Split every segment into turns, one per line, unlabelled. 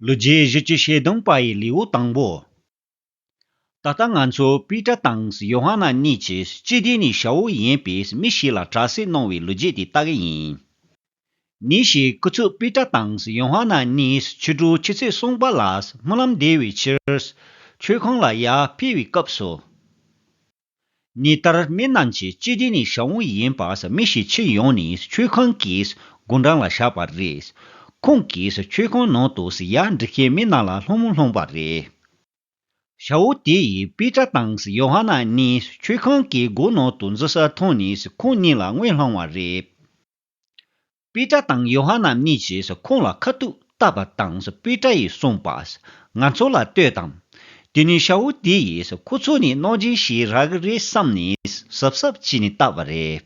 ལོ་བརྒྱད་བཞི་བཅུ་ཞེ་བདུན་པ་ཡི་ལེའུ་དང་པོ། ད་ལྟ་ང་ཚོ་པི་ཏྲ་དང་ཡོ་ཧ་ན་གཉིས་ཀྱིས་སྤྱི་བདེ་ནི་ཞའོ་ཝུ་ཡན་པས་མི་ཞིག་ལ་དྲག་སེལ་གནང་བའི་ལོ་རྒྱས་དེ་ལྟ་གི་ཡིན། ནི་ཞེས་སྐུ་ཚུགས་པི་ཏྲ་དང་ཡོ་ཧ་ན་གཉིས་ཕྱི་དྲོའི་ཆུ་ཚོད་གསུམ་པ་ལ་སྨོན་ལམ་བསྡད་བའི་ཕྱིར། མཆོད་ཁང་ལ་ཡར་འཕེལ་བའི་སྐབས་སུ། ཉི་ལྟར་སྨིན་ནམ་ཅི་སྤྱི་དེ་ནི་ཞང་བོ་ཡིན་པ་ས་མི་ཞིག་ཕྱི་ཡོང་ནས་ཆོས་ཁང་གི་སྒོ་འགྲམ་ལ་བཞག་པ་རེད། ཁོང་གིས་ཆོས་ཁང་ནང་དུ་ས་ཡ་འབྲི་མཁན་མི་རྣམས་ལ་ལྷུང་མོ་ལྷུང་བ་རེད། ཞང་བོ་དེ་ཡི་དཔེ་ཁྲ་དང་ཡོ་ཧ་ན་གཉིས་ཆོས་ཁང་གི་སྒོ་ནང་དུ་འཛུལ་ས་མཐོང་ནས་ཁོང་གཉིས་ལ་དངུལ་བསླངས་བ་རེད། པི་ཏྲ་དང་ཡོ་ཧ་ན་གཉིས་ཀྱིས་ཁོང་ལ་ཁ་ཐུག་བཏབ་པ་དང་པི་ཏྲ་ཡིས་གསུངས་པ། ང་ཚོ་ལ་ལྟོས་དང། དེ་ནས་ཤ་བོ་དེ་ཡིས་ཁོ་ཚོ་ནི་གནོད་སྦྱིན་ཞིག་རག་གི་རེད་བསམ་ནས་གཟབ་གཟབ་བྱས་ནས་བཏབ་པ་རེད།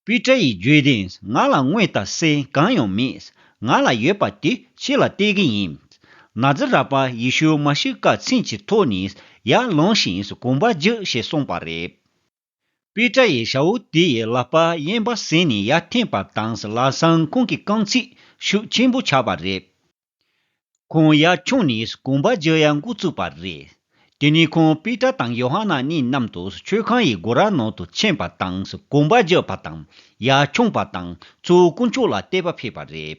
པི་ཏྲ་ཡིས་བརྗོད་དོན་ང་ལ་དངོས་ལྟ་སེ་གང་ཡང་མེད། ང་ལ་ཡོད་པ་དེ་ཁྱེད་ལ་སྟེར་གི་ཡིན། ན་ཛི་ར་པ་ཡེ་ཤུ་མ་ཤི་ཀ་ཚིག་གི་ཐོག་ནས་ཡར་ལངས་ཤིང་གོམ་པ་རྒྱག་ཞེས་གསུངས་པ་རེད། པི་ཏྲ་ཡི་ཤའུ་ཏི་ཡི་ལག་པ་གཡན་པ་ཟིན་ནས་ཡར་འཐེན་པ་དང་བླ་བྲང་ཁོང་གི་རྐང་ཚིགས་ཤུགས་ཆེན་པོ་ཆགས་པ་རེད། ཁོང་ཡར་མཆོངས་ནས་གོམ་པ་རྒྱག་ཡར་འགོ་བཙུགས་པ་རེད། དེ་ནས་ཁོང་པི་ཏྲ་དང་ཡོ་ཧ་ན་གཉིས་མཉམ་དུ་མཆོད་ཁང་ཡི་སྒོ་ར་ནང་དུ་ཕྱིན་པ་དང་གོམ་པ་རྒྱག་པ་དང་ཡར་མཆོངས་པ་དང་གཙོ་བོ་དཀོན་མཆོག་ལ་བལྟས་པ་ཕེབས་པ་རེད།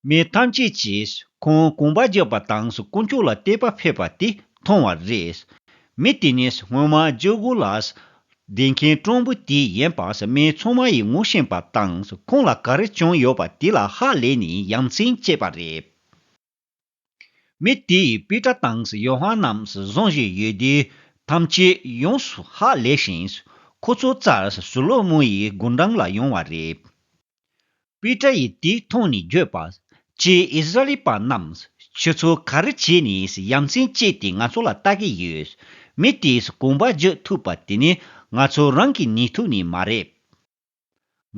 མི་ཐམས་ཅད་ཀྱིས་ཁོང་དགོངས་པ་རྒྱབ་པ་དང་དཀོན་མཆོག་ལ་གཏད་པ་ཕེབས་པ་དེ་མཐོང་བ་རེད། མི་དེ་ནི་སྔོན་མ་ཇོ་གུ་ལཱས་སྡེ་མཁན་སྤྲང་པོ་དེ་ཡིན་པ་མི་ཚང་མ་ཡིས་ངོ་ཤེས་པ་དང་ཁོང་ལ་ག་རེ་བྱུང་ཡོད་པ་དེ་ལ་ཧ་ལས་ནས་ཡ་མཚན་སྐྱེས་པ་རེད། མི་དེས་པི་ཏྲ་དང་ཡོ་ཧ་ནན་རྣམས་བཟུང་བཞིན་ཡོད་དེ། ཐམས་ཅད་ཡོངས་སུ་ཧ་ལས་ཤིང། ཁོ་ཚོ་རྩར་སུ་ལོ་མོ་ཡི་དགུང་གྲངས་ལ་ཡོང་བ་རེད། པི་ཏྲ་ཡིས་དེ་མཐོང་ནས་བརྗོད་པ། ཀྱེ་ཨིས་ར་ཨེལ་པ་རྣམས། ཁྱོད་ཚོ་ག་རེ་བྱས་ནས་ཡ་མཚན་སྐྱེས་ཏེ་ང་ཚོ་ལ་བལྟ་གི་ཡོད། མི་དེས་གོམ་པ་བརྗོད་ཐུབ་པ་དེ་ནི་ང་ཚོ་རང་གི་ནུས་མཐུ་ནི་མ་རེད།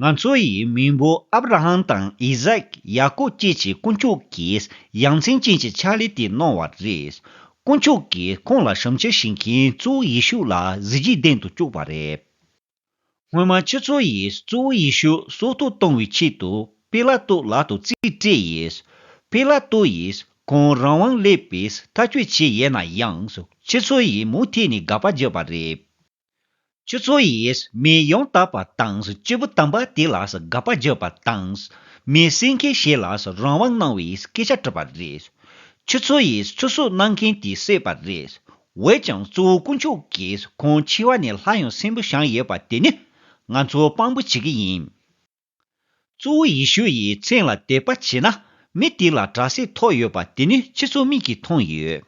ང་ཚོ་ཡི་མིང་པོ་ཨབ་ར་ཧམ་དང་ཨི་ཟག་ཡ་ཀོབ་བཅས་ཀྱི་དཀོན་མཆོག་གིས་ཡ་མཚན་ཅན་གྱི་ཕྱག་ལས་དེ་གནང་བ་རེད། དཀོན་མཆོག་གིས་ཁོང་ལ་ཞབས་འཕྱི་བྱེད་མཁན་གཙོ་བོ་ཡེ་ཤུ་ལ་གཟི་བརྗིད་ལྡན་དུ་བཅུག་པ་རེད། སྔོན་མ་ཁྱེད་ཚོ་ཡིས་གཙོ་བོ་ཡེ་ཤུ་སྲོག་ཐོག་གཏོང་བའི་ཆེད་དུ་པེ་ལ་ཏོ་ལག་ཏུ་རྩིས་སྤྲད་ཡིས། པེ་ལ་ཏོ་ཡིས་ཁོང་རང་དབང་ལེགས་པས་མཐའ་སྐྱོད་བྱེད་ཡས་ན་ཡང་ཁྱེད་ཚོ་ཡིས་མུ་མཐེད་ནས་དགག་པ་བརྒྱབ་པ་རེད། ཁྱོད་ཚོ་ཡིས་མི་ཡོངས་དག་པ་དང་སྐྱེས་བུ་དམ་པ་དེ་ལ་དགག་པ་བརྗོད་པ་དང། མི་སེམས་མཁས་ཤིང་ལ་རང་དབང་གནང་བའི་སྐད་ཆ་བྲིས་པ་རེད། ཁྱོད་ཚོ་ཡིས་ཚུར་གསོད་གནང་མཁན་དེ་བསད་པ་རེད། འོད་ཀྱང་གཙོ་བོ་དཀོན་མཆོག་གིས་ཁོང་འཆི་བ་ནས་ལྷ་ཡང་སྲིན་པོ་བྱང་ཡོད་པ་དེ་ནི་ང་ཚོ་དཔང་པོ་བྱེད་ཀྱི་ཡིན། གཙོ་བོ་ཡེ་ཤུ་ཡིས་མཚན་ལ་དད་པ་བྱས་ན་མི་དེ་ལ་དྲག་ཟས་ཐོགས་ཡོད་པ་དེ་ནི་ཁྱེད་ཚོ་མིག་གིས་མཐོང་ཡོད།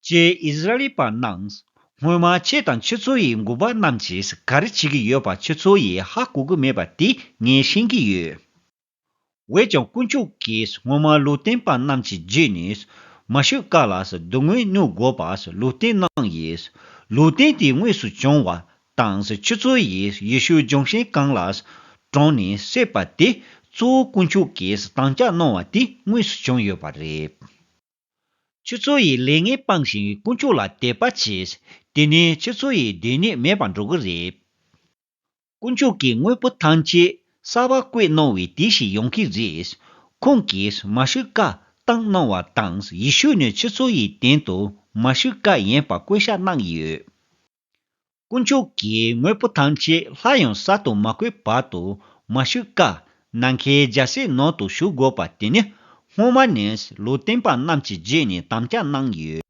ཀྱེ་ཨིས་ར་ཨེལ་པ་རྣམས། སྔོན་མ་ཁྱེད་དང་ཁྱེད་ཚོ་ཡི་མགུར་པ་རྣམས་ཀྱིས་ག་རེ་བྱེད་ཀྱི་ཡོད་པ་ཁྱེད་ཚོ་ཡིས་ཧ་གོ་གི་མེད་པ་དེ་ངས་ཤེས་ཀྱི་ཡོད། འོད་ཀྱང་དཀོན་མཆོག་གིས་སྔོན་མ་ལུས་རྟེན་པ་རྣམས་ཀྱི་རྗེས་ནས་མ་ཤོད་དཀའ་ལ་སྡུག་བསྔལ་མྱོང་དགོས་པ་ལུས་རྟེན་གནང་ཡས། ལུས་རྟེན་དེ་དངོས་སུ་བྱུང་བ་དང་ཆུ་ཚོད་ཡི་ཡི་ཤུའི་ལྗོན་ཤིང་གང་ལ་དྲངས་ནས་བསྲེགས་པ་དེ་གཙོ་བོ་དཀོན་མཆོག་གིས་དམ་བཅའ་གནང་བ་དེ་དངོས་སུ་བྱུང་ཡོད་པ་རེད། ཆུ་ཚོད་ཡི་ལས་ངན་སྤངས་ཤིང་དཀོན་མཆོག་ལ་དད་པ་བྱས། དེ་ནས་ཆུ་ཚོད་ཡི་སྡོད་གནས་མེད་པར་འགྲོ་གི་རེད། དཀོན་མཆོག་གིས་དངོས་པོ་ཐམས་ཅད་གསར་བ་བཀོད་གནང་བའི་དུས་ཤིག་ཡོང་གི་རེད། ཁོང་གིས་མ་ཤུ་ཀ་བཏང་གནང་བ་དང་ཡི་ཤུ་ནི་ཆུ་ཚོད་ཡི་སྟེང་དུ་མ་ཤུ་ཀ་ཡིན་པར་བཀོད་ཤག་གནང་ཡོད། དཀོན་མཆོག་གི་དངོས་པོ་ཐམས་ཅད་ལྷ་ཡང་གསར་དུ་མ་བརྐོས་བར་དུ་མ་བཞུགས་དཀའ། ནམ་མཁའི་རྒྱལ་སྲས་ནང་དུ་བཞུགས་དགོས་པ་དེ་ནི་སྔོན་མ་ནས་ལུས་བསྟན་པ་རྣམས་ཀྱི་རྗེས་ནས་དམ་བཅའ་གནང་ཡོད།